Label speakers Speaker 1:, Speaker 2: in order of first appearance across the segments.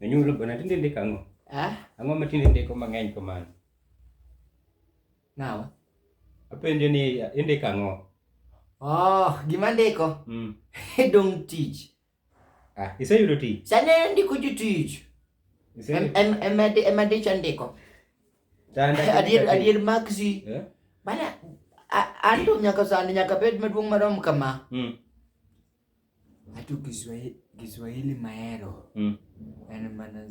Speaker 1: Nanyulo bana tinde ndiko ang'o? Ah? Ang'o ma tinde ndiko mang'eny kamano?
Speaker 2: Nawa. Apenjo ni
Speaker 1: indiko ang'o? Oh,
Speaker 2: gima ndiko? Mm. Dong tich. Ah, iseyudo
Speaker 1: tich? Sane ndiko jotich.
Speaker 2: Ema dich andiko. Adier adier Maxi. Eh? Bana anto nyaka sani nyaka bed maduong' marom kama. Mm. Hata Kiswahili, Kiswahili maero mm. yani maana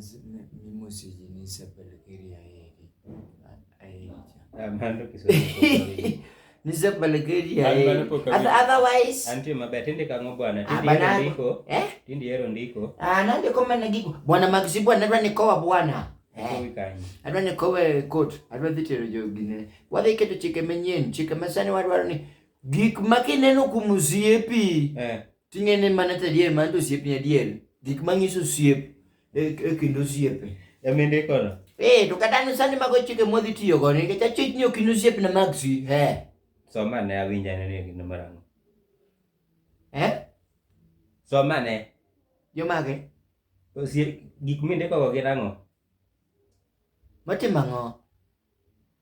Speaker 2: mimi sijinisa pelekeri ya heri
Speaker 1: amando Kiswahili nisa
Speaker 2: pelekeri ya heri otherwise anti mabaya tende
Speaker 1: kango bwana ah, tindi yero ndiko eh tindi yero ndiko ah nande koma nagiko
Speaker 2: bwana Maxi bwana ndio nikoa bwana adwa ni kowe kot adwa dhi tero jogine wadhi keto chike manyien chike masani wadwaro ni Gik ma kineno kuom osiepi Eh. ting'e ni mano to adier, mano to osiepni adier. Gik ma ng'iso osiep e e kind osiepe. Ema indikono.
Speaker 1: Eh, to kata an sani
Speaker 2: mago chike mwadhi tiyo godo nikech achich ni ok in osiepna Maxi. Eh. Som ane
Speaker 1: awinj ane ni gin mar ang'o. Eh? Som ane. Jomage?
Speaker 2: Osie-
Speaker 1: Gik mindikogo gin ang'o?
Speaker 2: Matimo ang'o?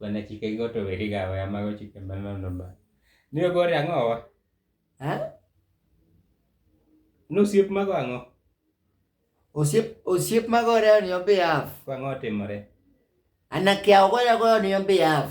Speaker 1: Bana chike go to weri ga we amago chike manono ba. Ni ogore ang'o wa? Ha? Nosiep mago ang'o? Osiep
Speaker 2: osiep magore on your behalf. Ang'o otimore?
Speaker 1: Anakia
Speaker 2: ogoya goya on your behalf.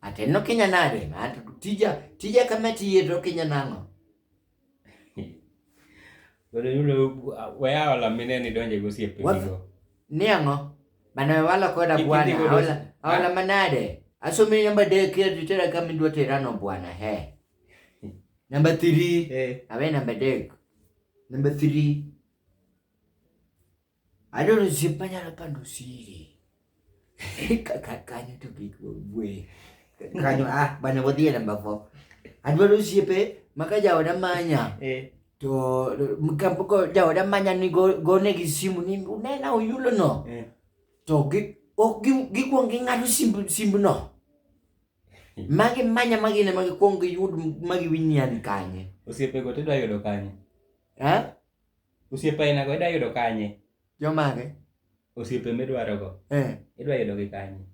Speaker 1: Ate
Speaker 2: nokinya nade? Ate tija tija kama tiye to kinya nang'o?
Speaker 1: Bado yule waya wala mineni donje gosiepe nigo. Ni ang'o?
Speaker 2: Bana wala koda bwana awala awala ah. manade. Asome namba de kia titera kama ndwa terano bwana he. Namba 3. Eh. Awe namba de. Namba 3. Ado osiep manyalo pando siri. Kaka kanyo to kik wabwe. Kanyo ah bana wadhi e namba 4. Adwaro osiepe ma ka jaoda manya Eh. to kapoko jaoda manya ni go- gonegi simu ni unena oyulono Eh. to gi- ok gi- gikwong ging'ado simb simbno magi manya magine ma gikwong giyud ma giwinyan kanye Osiepego to idwa yudo
Speaker 1: kanye? Eh? Osiepe aina go idwa yudo kanye? Jomage?
Speaker 2: Osiepe
Speaker 1: midwarogo. Eh. Idwa yudogi kanye?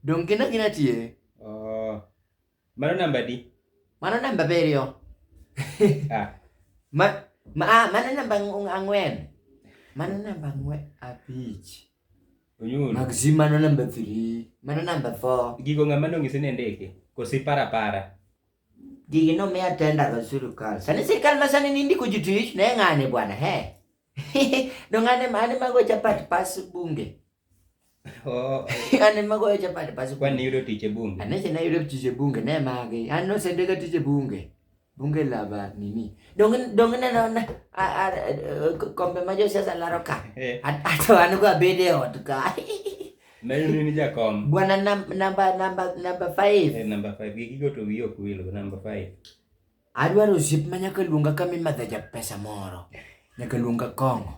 Speaker 2: Dong gin agina tie. Oh.
Speaker 1: Mano namba di? Mano namba abiriyo.
Speaker 2: ah. Ma, ma, ah, mano namba ang'wen. Mano namba ang'wen abich. Onyulo.
Speaker 1: Mag zi mano namba
Speaker 2: 3. Mano namba 4. Gigo ng'ama nong'isi ni
Speaker 1: ndiki? Kosi para para? Digino
Speaker 2: me atenda ga sirikal. Sani sirikal ma sani ni ndiko ji tich ne ng'ane bwana he. Do ng'ane mane mago chapat pas bunge. Oh, Ane mago chapat pas bunge. Kwani yudo tich e bunge? Ane
Speaker 1: sina yudo tich e
Speaker 2: bunge ne mage. An no sende ga tich e bunge. Bunge lava nini. Dong dong ne no na a a kombe ma josiasa laro ka. Eh. Ato an go abede ot ka. Na yun
Speaker 1: ni Jakom. Bwana number
Speaker 2: number number 5. Eh, number 5. Gigi go to
Speaker 1: wiyo kuwilo number 5. Adwaro
Speaker 2: zip ma nyaka luonga kama imadhe ja pesa moro. Nyaka luonga kong'o.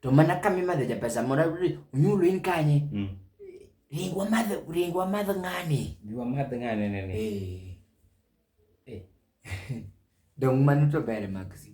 Speaker 2: To mana kama imadhe ja pesa moro unyulo in kanye. Mm. Ringwa madhe ringwa madhe ng'ani. Ringwa madhe ng'ani ne
Speaker 1: ne. Eh. Eh.
Speaker 2: Dong mano to bere magzi.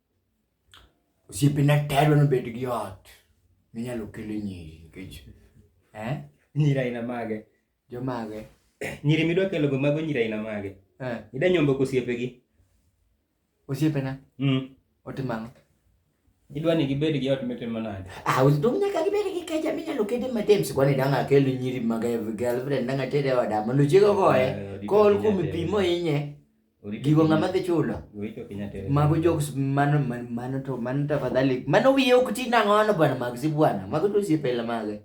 Speaker 2: Osiepena te adwa ni obed gi ot minyalo kele nyiri nikech eh?
Speaker 1: Nyiri aina mage? Jomage?
Speaker 2: Nyiri midwa
Speaker 1: kelogo mago nyiri aina mage? Eh. Ida nyombo kosiepegi?
Speaker 2: Osiepena? Mm. Otimo ang'o?
Speaker 1: Idwa ni gibed gi ot mitimo nade? Ah, to nyaka gibed
Speaker 2: gi keja minyalo kede matem sikwa ni dang' akel nyiri mag girlfriend dang' atere oda mondo chiego goye eh, kool kuom pi mohinye gigo ng'ama dhi chulo mago jokes mano mano to mano tafadhali mano wiye ok ti nang'ono bwana mag si bwana mago to osiepela mage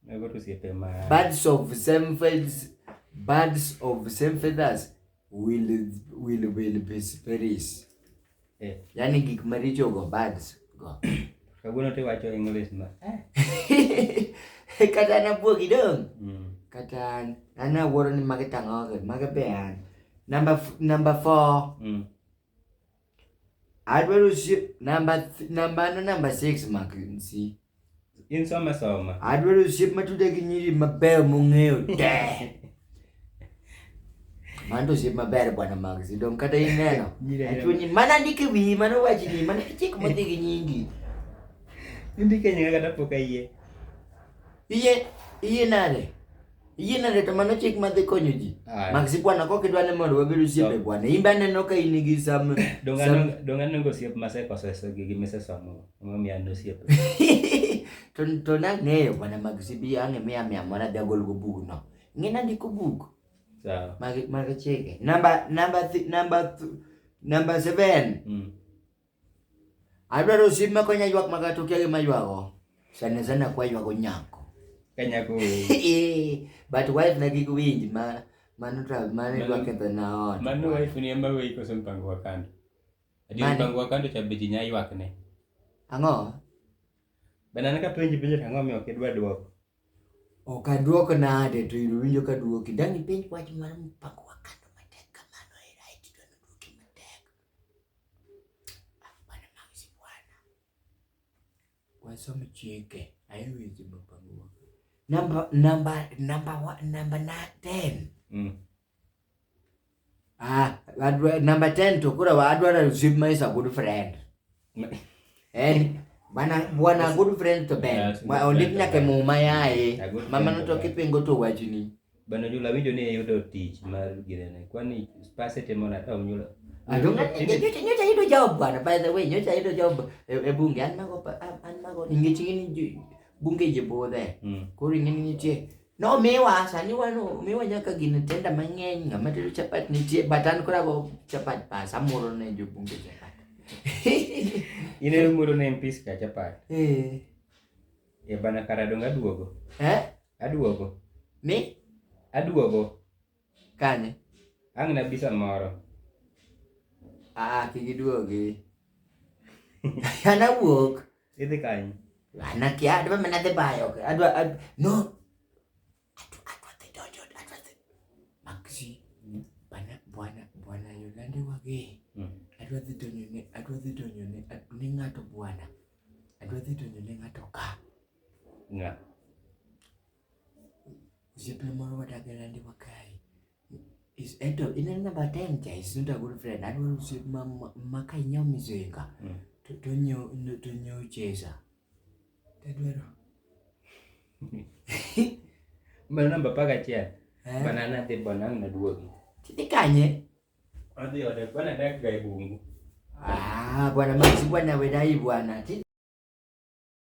Speaker 2: mago to osiepe
Speaker 1: ma birds of same
Speaker 2: feathers birds of same feathers will will will be space Eh. Yaani gik maricho go bads go. Kawuono to iwacho
Speaker 1: English ma.
Speaker 2: Kata an abuogi dong. Mm. Kata an an awuoro ni magi tang'oge, magi be an. Number f- number four. Mm. Adwaro si number th- number no number six mak nsi. In soma
Speaker 1: soma. Adwaro osiep matuda
Speaker 2: gi nyiri mabeyo mong'eyo te. Mano to osiep maber bwana Max. Dong kata ineno. Nyiri ahero. Achunyi mana ndike wiyi mano wachni mana chik modhi gi nyingi.
Speaker 1: Indike nyinga kata pok ayie. Iye
Speaker 2: iye nade? Yie na leta mano chik madhi konyo ji. Maxi bwana kok idwa ni mondo wabed osiepe bwana. In be aneno ka in gi sam donga nongo
Speaker 1: osiep masekoso eso gi misesomo. Omiyo mi an osiep. To
Speaker 2: to na ng'eyo bwana Maxi bi ang'e mi amia mora bi agol go bug no. Ng'ina ndiko bug. Sawa. Mag
Speaker 1: mag chike.
Speaker 2: Namba namba namba namba 7. Mm. Adwaro sim makonya ywak maga to kia gima ywago. Sana sana kwa ywago nyako. Kanya ko.
Speaker 1: Eh,
Speaker 2: but wife na gig winj ma mano to mano Mano- ywak ketho na ot. Mano wife ni ema weyi
Speaker 1: koso mpango wa kando. Adi Mani. mpango wa kando cha beji nya ywak ne. Ang'o? Banana ka penji penjo to ang'o mi ok idwa dwoko. Ok
Speaker 2: aduok nade to in winjo ka duoki. Dang' ipenj wach mar mpango Wasome chike ayo weche mapangwa. Namba namba namba namba na 10. Mm. Ah, adwa namba 10 to kura adwa to zip my good friend. Eh, bana bwana good friend to Ben. Ma ondik nyaka muma yae. Mama no to kipingo to wachni. Bana jula winjo
Speaker 1: ni yudo tich mar girene. Kwani spase temo na tawo nyula. Adonga nyocha
Speaker 2: nyocha yudo job bwana. By the way, nyocha yudo job e, e bunge an mago an mago ningechingini bunge je bodhe. Hmm. Koro ingeni nitie No miwa sani wano miwa nyaka gin tenda mang'eny ng'ama tedo chapat nitie but an kora go chapat pas amoro ne jobunge chapat.
Speaker 1: In e muro ne mpis ka chapat. Eh. E bana kara dong aduogo. Eh? Aduogo. Mi?
Speaker 2: Aduogo.
Speaker 1: Kanye?
Speaker 2: Ang' na
Speaker 1: bisa moro. Ah,
Speaker 2: kik iduogi. Ana wuok. Idhi kanye?
Speaker 1: Ana kia adwa
Speaker 2: mana dhi bayo. Adwa ad, no. Adwa adwa dhi donjo adwa dhi. Maxi. Hmm. Bana bwana bwana Yolande wage. Hmm. Adwa dhi donjo ne adwa dhi donjo ne ni ng'ato bwana. Adwa dhi donjo ne ng'ato ka. Nga. Osiepna moro wadak e landi ma kae, is eto in e namba ten cha, is not a good friend. Adwaro osiep ma ma ka inyiewo mizinga, to tonyiewo tonyiewo chesa. Tadwaro.
Speaker 1: Mano namba apar gachiel. Eh? Bana nadhi bana ang' naduogi. Tidhi kanye?
Speaker 2: Adhi
Speaker 1: ode bana
Speaker 2: dak
Speaker 1: ga e bungu.
Speaker 2: Ah,
Speaker 1: bwana
Speaker 2: Max,
Speaker 1: bwana wedai
Speaker 2: bwana.
Speaker 1: Ti-